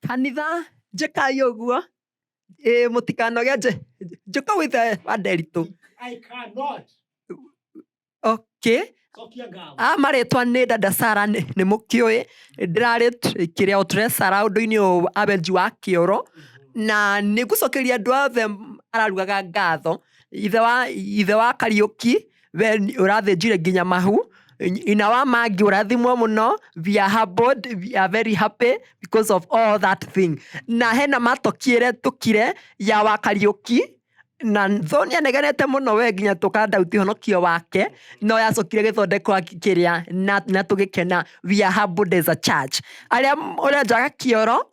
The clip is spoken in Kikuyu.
Kanitha njĩkai ũguo ĩ mũtikanoge nje njũka withe wa nderitũ okay a marĩtwa nĩ dada Sara nĩ nĩ mũkĩũĩ ndĩrarĩ kĩrĩa o tũrecera ũndũ-inĩ ũyũ wa wenji wa kĩoro na nĩngũcokeria andũ othe mararugaga ngatho ithe wa ithe wa Kariũki. we ni- ũrathĩnjire nginya mahu ina wa mangi ũrathimwo mũno we are humbled, we are very happy because of all that thing na hena matokire tukire ya wakariũki na tho nä anegenete må no we nginya tå kandauti honokio wake no yacokire gä thondeko kä na, na tå gä kena we are humbled as a church arä a å renjaga kä oro